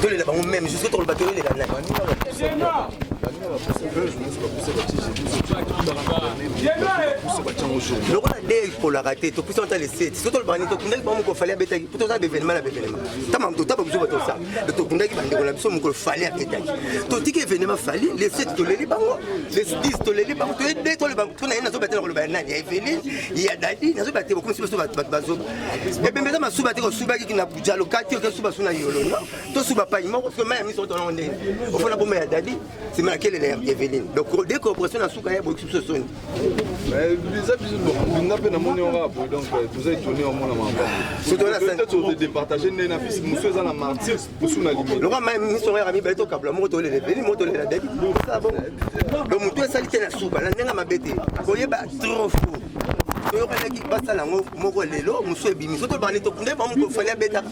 tolela bango meme jusque tokoloba te olela nani lokola de kolaka te topusana ta leseti so toloba nini tokundaki bango mokolo fali abetaki mpo toza bevenema na bevenema tama totaba biso bato osala to tokundaki bandeko na biso mokolo fali abetaki totiki evenema fali leseti toleli bango lesdis toleli bango toyede toloba mpo na ye nazoba te na koloba ya nani ya eveline ya dadi nazoba te bokomisi biso bato bazoba ebembe eza masuba te kosubaki jalo kati oke suba suna yolo no to suba pani moko soki mai ya miso otonango ndenge ofona boma ya dadi nsima ya kelele ya eveline donc de corporation na suka ya boyokisi biso soni eza biso bonga mpe namoni yango apo donc euh, toza etone omona mabaodepartage nde na fisi mosu eza na martyr mosu na limi lokola mai miso yango yaka mibale tokabula moko tolela eveline moko tolela dadi donc motu esali te na suba na ndenge mabe te koyeba trop fou toyokanaki basala yango moko lelo mosusu ebimi soki tobandi tokunde bango fali abetaka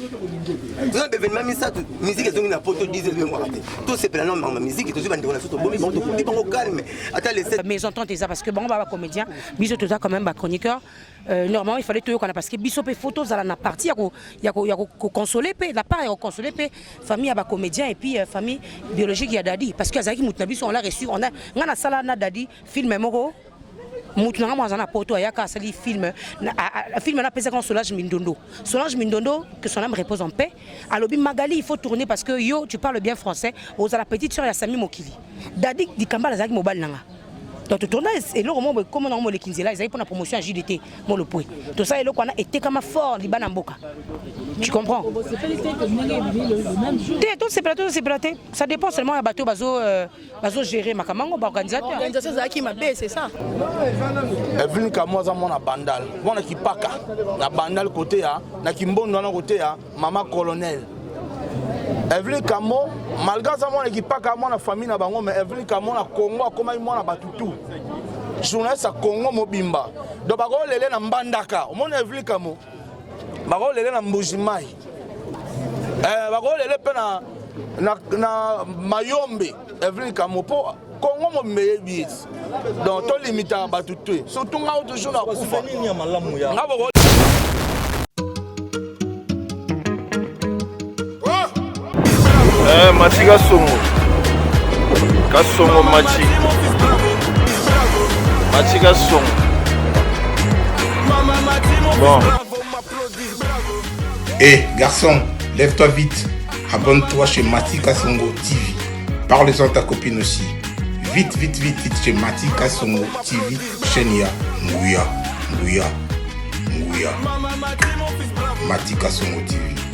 toza bevenema misato miziki ezongi na poto 10 ezongaka te tosepela na mama miziki tozwi bandeko na biso tobomi bango tokundi bango calme ata lese maison tante eza parce que bango baba comédien biso toza quand même bachroniqueur euh, normalement il fallait toyokana parce que biso mpe fo tozala na parti ya kokonsole mpe na part ya kokonsole mpe famille ya bacomédien et puis euh, famille biologique ya dadi parce que azalaki moto na biso on l'a reçu on a ngai nasala na dadi film moko mutu na ngai aza na poto ayaka asali filme filme napesaka na solange mindondo solange mindondo que son âme repose en paix alobi magali il faut tourner parce que yo tu parles bien français ozala petite sœur ya sami mokili dadi dikambala azalaki mobali na ngai donc totourna eloko moko ekoma nango moleki nzela ezali mpona promotion ya jdt molopwe tosala eloko wana etekama fort libana mboka tu comprends te tosepela tosepela te ça dépend seulement ya bato bazo euh, bazo gérer makambo yango baorganisateur organisation ezalaki mabe c'est ça Evelyn Kamwa aza mwana bandal mwana kipaka na bandal kote ya na kimbondo wana kote ya mama colonel Evelyn Kamo malgré aza mwana kipaka mwana famille na bango mais Evelyn Kamo na Congo akomaki mwana bato tout journaliste ya Congo mobimba donc bakolele na mbandaka omoni Evelyn Kamo bakolele na mbuji mai eh, bakolele mpe na, na, na mayombe evelin kamo mpo kongo mobimba eyebi ye donc tolimitaka bato te surtout ngao toujours na kufa nga Eh, mati kasongo kasongo mati mati kasongo bon Eh, garçon, lève-toi vite. Abonne-toi chez Mati Kasongo TV. Parle-en à ta copine aussi. Vite, vite, vite, vite chez Mati Kasongo TV. Chenia, Nguya, Nguya, Nguya. Mati Kasongo TV.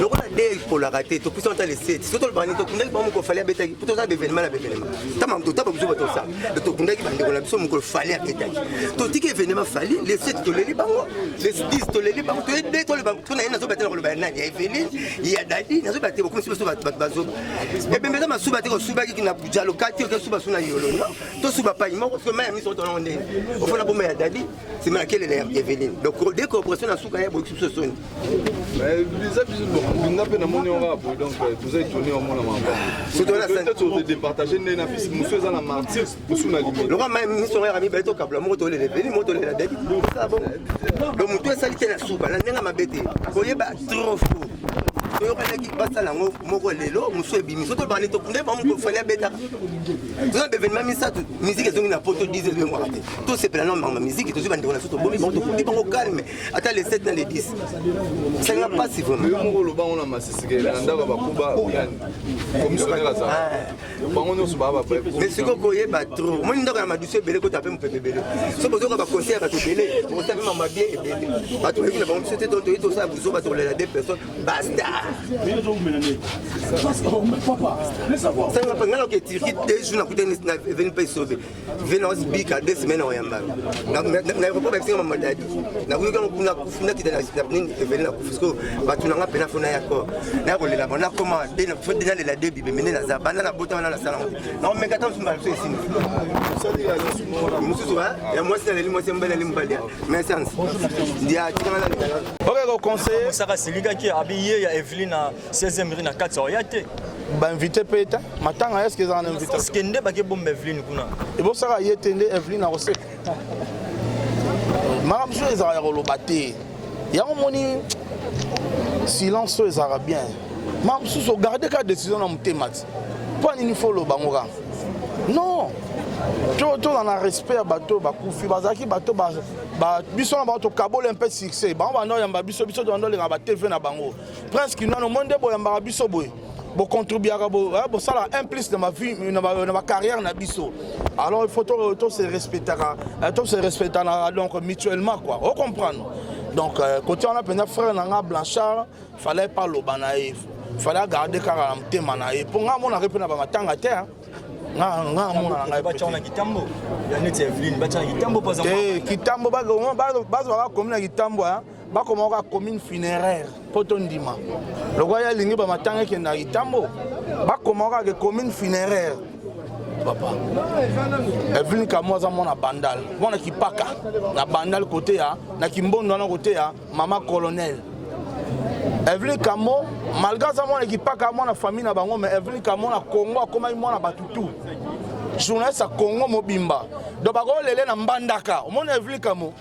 lokola nde epolaka te topesa ata leseti so toloba nde tokundaki bango mokolo fali abetaki mpo toza bevenema na bevenema ntama totaba biso bato osala tokundaki bandeko na biso mokolo fali abetaki totiki evenema fali leseti toleli bango lesdis toleli bango toyede toloba mpo na ye nazoba te na koloba ya nani ya eveline ya dadi nazoba te bokomisi biso bato bazoba ebembe eza masuba te kosubaki na bujalo kati okesuba su na yolo no tosuba pai moko soki mai ya miso otonango ndenge ofona boma ya dadi sima ya kelele ya eveline donc de corporation na suka ya boyokisi biso soni biza biso bonga mpe namoni yango kaka boye donc euh, toza etone omona makambo departage nde na fisi mosu eza na martyr mosu na limete lokola mai miso yango yaka mibale tokabula moko tolela eveline moko tolela dadi donc motu esali te na suka na ndenge mabe te koyeba trop faux toyokanaki basala yango moko lelo mosusu ebimi so tobandi nde bamofali abetaka toza bevenema misato miziki ezongi na poto 10 ezongi mwaka te tosepela na mama miziki tozwi bandeko na biso tobomi bango tokuti bango calme ata le 7 na le 10 esalinga mpasi vraimentmoko oloba ngo na masisikele na ndako ya bakuba oyani komisionere azala bango nyonso baa bamais sikoyo koyeba tro omoni ndako ya madusu ebele kota mpe mopepe ebele so bozoka baconseil ya bato ebele okosa mpe mama bie ebele bato oyebi na bango biso te toyi tosala buzoba tolela de personne basta sanga mpe ngai naoke turki de jour nakutani na eveni mpe esobe vena ozibika de semaine oyamba na aéroport babisi nga mamadadi nakoyoki yango kuna kufi nakita nini evele na kufi sikoyo bato na nga mpe nafona ya kor naya kolela bango nakoma de nalela de bibe mende naza banda nabota wana nasala yango naomeka ta mosusu mbala biso esini mosusu ya mwasi naleli mwasi ya mobali naleli mobali ya messence ya tikanga nalela okekoconseille osaka silikaki abi ye ya evelina 16e rue na kati oya te ba invité pe ta matanga est-ce que ezala na invité est-ce que nde ba ke bomba Evelyne kuna et bon ça ye te nde Evelyne na koseka makambo so ezala ya koloba te yango moni silence oyo ezalaka bien ma mosusu ogarde kaka décision na motema ti mpo nini fo oloba ngo kaka non tozala na respect ya bato bakufi bazalaki bato biso na bango tokabola mpe succès bango banda oyamba biso biso tobanda olingaka batv na bango Prince Kinwana omoni nde boyambaka biso boye bocontribuaka bosala hein, un plus na bavie na bacarrière na biso alors il faut tose respectaka euh, tose respectanaka donc mutuellement quoi o comprendre donc euh, kote wana mpenza frère na nga blanchard fallait pas loba na ye fallait agarde kaka na motema na ye mpo nga amonaka mpe na bamatanga te kitambo bakomi na kitambo bakoma kaka commune funéraire mpo tondima lokola ye alingi bamatanga ekenda na itambo bakoma kaka commune funéraire papa evelin kamo aza mwana bandal mwana kipaka na bandal kote ya na kimbondo wana kote ya mama colonel evelin kamo malgre aza mwana kipaka mwana famille na bango mais evelin kamo na congo akomaki mwana bato tout journaliste ya congo mobimba donc bakolele na mbandaka omoni evelin kamo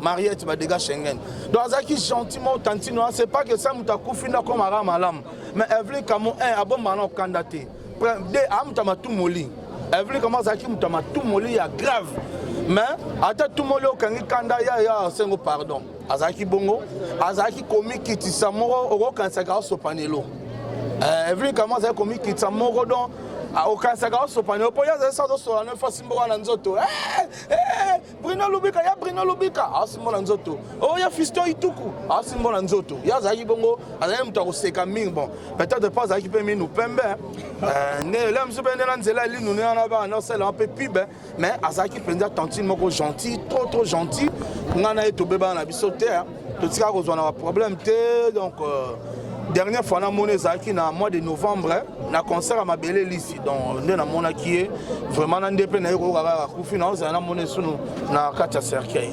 Mariette Badega Schengen. Donc azaki gentiment tantino, hein. c'est pas que ça muta kufina comme aram alam. Mais Evelyn Kamo un eh, abon manon kandate. Deux amta ah, matou moli. Evelyn Kamo azaki muta matou moli ya grave. Mais ata tout moli okangi kanda ya ya sengo pardon. Azaki bongo, azaki komikitisa moko okokanisaka osopanelo. Eh, Evelyn Kamo azaki komikitisa moko donc ah, okanisaka osopanelo mpo ye azali sa azosola no efasi mboka na nzoto eh, Bruno Lubika ya Bruno Lubika asimbo na nzoto oyo oh, ya Fiston Ituku asimbo na nzoto ye azalaki bongo azalaki moto ya koseka mingi bon peut-être pas azalaki mpe minu pembe euh, nde lelo mosusu mpe nde na nzela elinu ne wana bana osalelaka mpe pub mais azalaki mpenza tantine moko gentil trop trop gentil ngai na ye tobebana na biso te totika kozwa na baproblème te donc euh, dernière fois namoni ezalaki na mois de novembre na concert ya mabele lisi donc nde namonaki ye vraiment na nde mpe naye koyoka kaka akufi naozala namoni esunu na kati ya cercueil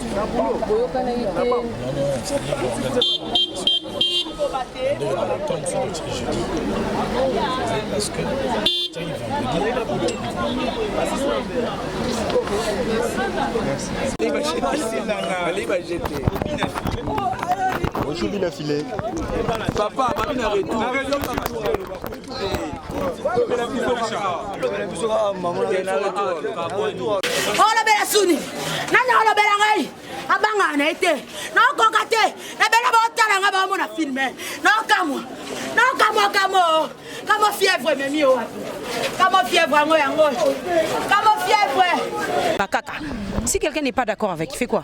Bonjour, Bina Filet. Papa, Bina Retour. olobela suni nani olobela ngai abangaka na ye te naokoka te ebele baotala ngai baomona filme naokamwa naokamwa kamo kamo fièvre ememi yo wapi kamo fièvre yango yango kamo fièvre bakaka si quelqu'un n'est pas d'accord avec fait quoi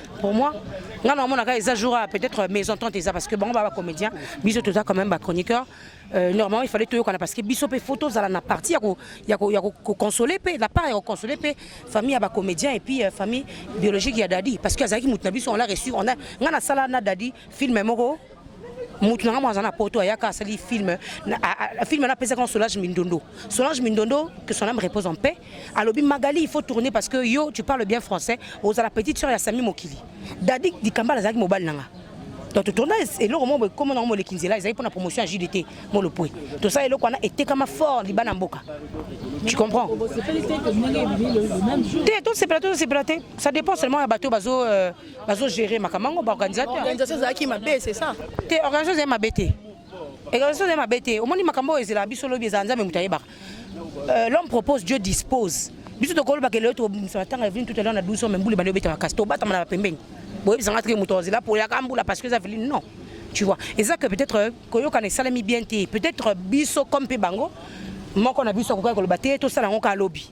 pour moi nga na monaka eza jour ya peut-être maison tante eza parce que bango ba ba comédien biso toza quand même ba chroniqueur euh, normalement il fallait toyokana parce que biso mpe faut tozala na partie ya koconsoler mpe na part ya koconsoler mpe famille ya ba comédien et puis euh, famille biologique ya dadi parce que azalaki moto na biso on l'a reçu on a nga nasala na dadi film moko mutu na ngambo aza na poto ayaka asali film film wana apesaka na solange mindondo solange mindondo que son âme repose en paix alobi magali il faut tourner parce que yo tu parles bien français ozala petite sœur ya sami mokili dadi dikambala azalaki mobali na nga donc totourna eloko moko ekoma nango moleki nzela ezali mpona promotion ya jdt molopwe tosala eloko wana etekama fort liba na mboka tu comprends te tosepela tosepela te ça dépend seulement ya bato bazo euh, bazo gérer makambo yango ba organisateur organisation ezalaki mabe c'est ça te organisation ezali mabe te organisation ezali mabe te omoni makambo oyo ezelaka biso lobi ezala nzambe moto ayebaka euh, l'homme propose dieu dispose biso tokolobaka lelo tokobimisa matanga ya vini tout à l'heure na 12 ans mais mbuli bandi obeta makasi tobatama na bapembeni boyebisanga teke moto azela po yaka mbula parce que eza vili non tu vois eza que peut-être euh, koyokana esalemi bien te peut-être biso comme mpe bango moko na biso akokaki koloba te tosala yango kaka lobi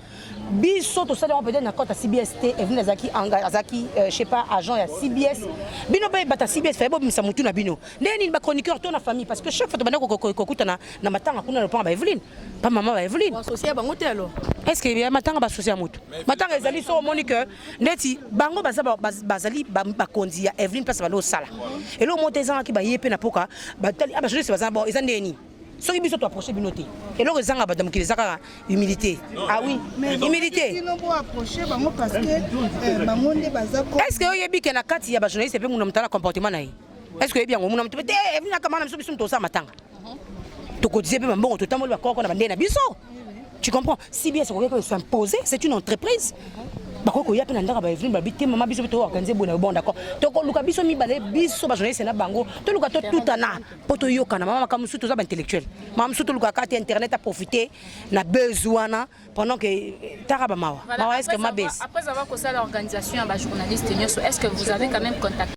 biso tosali yango peut-être na cote ya cbs te evine azalaki azalaki euh, je sais pas agent ya cbs bino mpe bata cbs faye bobimisa motu na bino ndenge nini bachroniqueur to na famille parce que chaque fois tobanda kokutana na matanga kuna lopango ba eveline pa mama ba eveline bango te alors est ce que ya matanga basusi ya motu matanga ezali so omoni que ndeti bango baza bazali bakonzi ya eveline place bando osala eloko moko te ezangaki baye mpe na mpoka batali a ah, bajournaliste baza eza ndenge nini soki biso to approcher bino te eloko ezanga bato ya mokili eza kaka humilité ah oui humilité est ce que oyebi ke na kati ya bajournaliste mpe muna motala comportement na ye est ce que oyebi yango muna moto mpe te eh, evinaka mana biso biso moto osala matanga tokotise mpe bambongo totamboli bakoko na bandei na biso tu comprends si bien sokoki ko s'imposer c'est une entreprise bakoki koya mpe na ndako baevine babi te mama biso mpe toorganize boye na yo bon d'accord tokoluka biso mibale biso bajournaliste na bango toluka totutana mpo toyokana mama makambo mosusu toza baintellectuel mama mosusu tolukaka te internet aprofite na buzz wana pendant que eh, taka bamawa mawa eske mabes après avoir kosala organisation ya bajournaliste nyonso est ce que vous avez quand même contact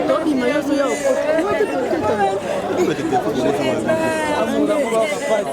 tobima nyonso ya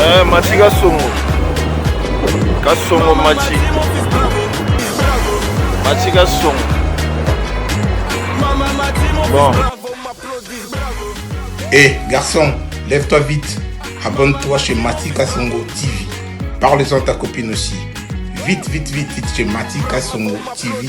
Eh, mati kasongo kasongo mati mati kasongo bon hey, eh, garçon lève-toi vite abonne-toi chez mati kasongo tv parle-en ta copine aussi vite vite vite vite chez mati kasongo tv